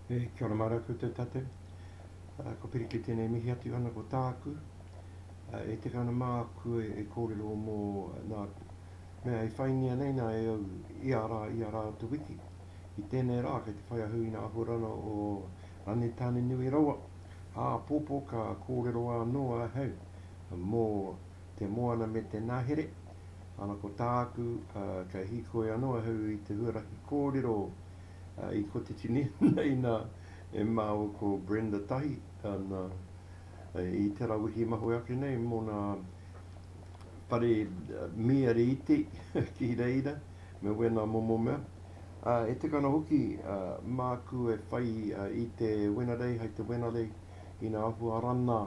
E, kia ora mā rātou te tate. Uh, ko Piriki tēnei mihi atu ana ko tāku. Uh, e teka ana māku e, e kōrero mō nā mea e whaingia nei nā e au i a rā, i a rā te wiki. I tēnei rā, kei te whai ahu i nā āhuarana o Rane Tāne Nui Rawa. Ā, pōpō ka kōrero anō ahau mō te moana me te nahere, ana ko tāku ka hīkoi anō ahau i te huarahi kōrero i kotahi nei nā e māua ko Brenda Tahi ana i te ra wehi mahue ake nei mō nā pare mīare iti ki reira me wēnā momo mea, ā, e tika ana hoki māku e whai i te Wena Rei hai te Wena Rei ina ahu arana.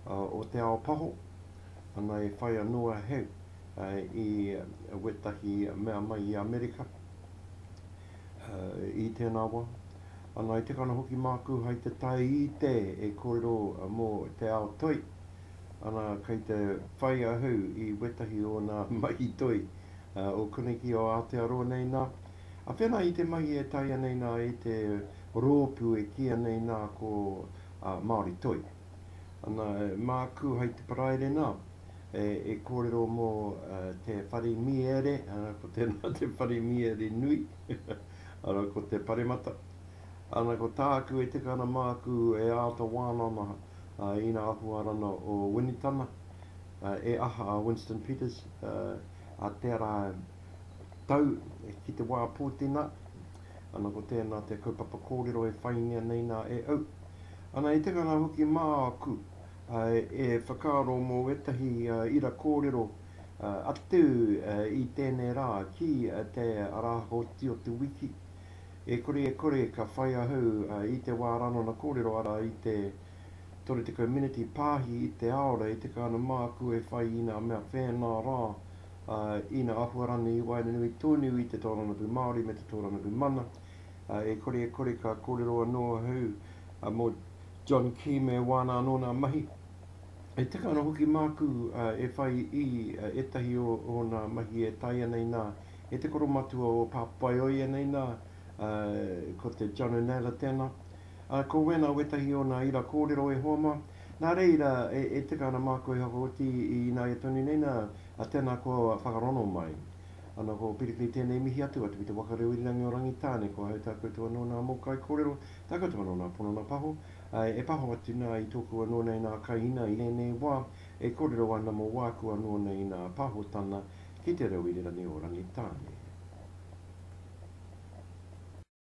o te ao paho, ana e whai anō a Hegg i wētahi mea mai i Amerika i tēnā wā, ana i tekana hoki māku hai te taite e kōrero mō te ao toi, ana kei te whai ahau i wētahi o nā mahi toi o koneki o Aotearoa nei nā, a whena i te mahi e taea nei nā e te rōpū e kīia nei nā ko Māori Toi. Ana, māku hai te paraire nā, e kōrero mō te whare mīere, ana, ko tēnā te whare mīere nui, ana, ko te paremata. Ana, ko tāku e tika ana māku e āta wānanga i ngā ahuarana o Winitana, e aha a Winston Peters, a te ara tau ki te wā pūtena, Ana ko tēnā te kaupapa kōrero e whaingia nei nā e au. Ana he tikanga hoki māku e whakaaro mō ētahi ira kōrero atu i tēnei rā ki te Arahoti o te Wiki. E kore e kore ka whai ahau i te wā ranona kōrero arā i te 30 miniti pāhi i te aora e tika ana māku e whai i ngā mea whēnā rā ā, ina āhua rānei i waenganui tonu i te taurangarau Māori me te taurangarau mana, ā, e kore e kore ka kōrero anō ahau mō John Key me wāna anō nā mahi. E tika ana hoki māku e whai i ētahi o ōna mahi e taea nei nā, e te koromatua o Pāpaioia nei nā, ā, ko te John O'Naylor tēnā. Ā, ko wēnā wētahi o nā ira kōrero e hoa mā, nā reira e tika ana māku e whakaoti i ināia tonu nei nā, tēnā kua whakarono mai. Ana ko Piripi tēnei mihi atu atu ki te waka reo irirangi o Rangitāne, kua hautā koutou anō nā mōkai kōrero, takoto anō nā ponana paho, āe, e paho atu nā i tōku anō nei nā Kaihina i rēnei wā e kōrero ana mō wāku anō nei nā Pahotana ki te reo irirangi o Rangitāne.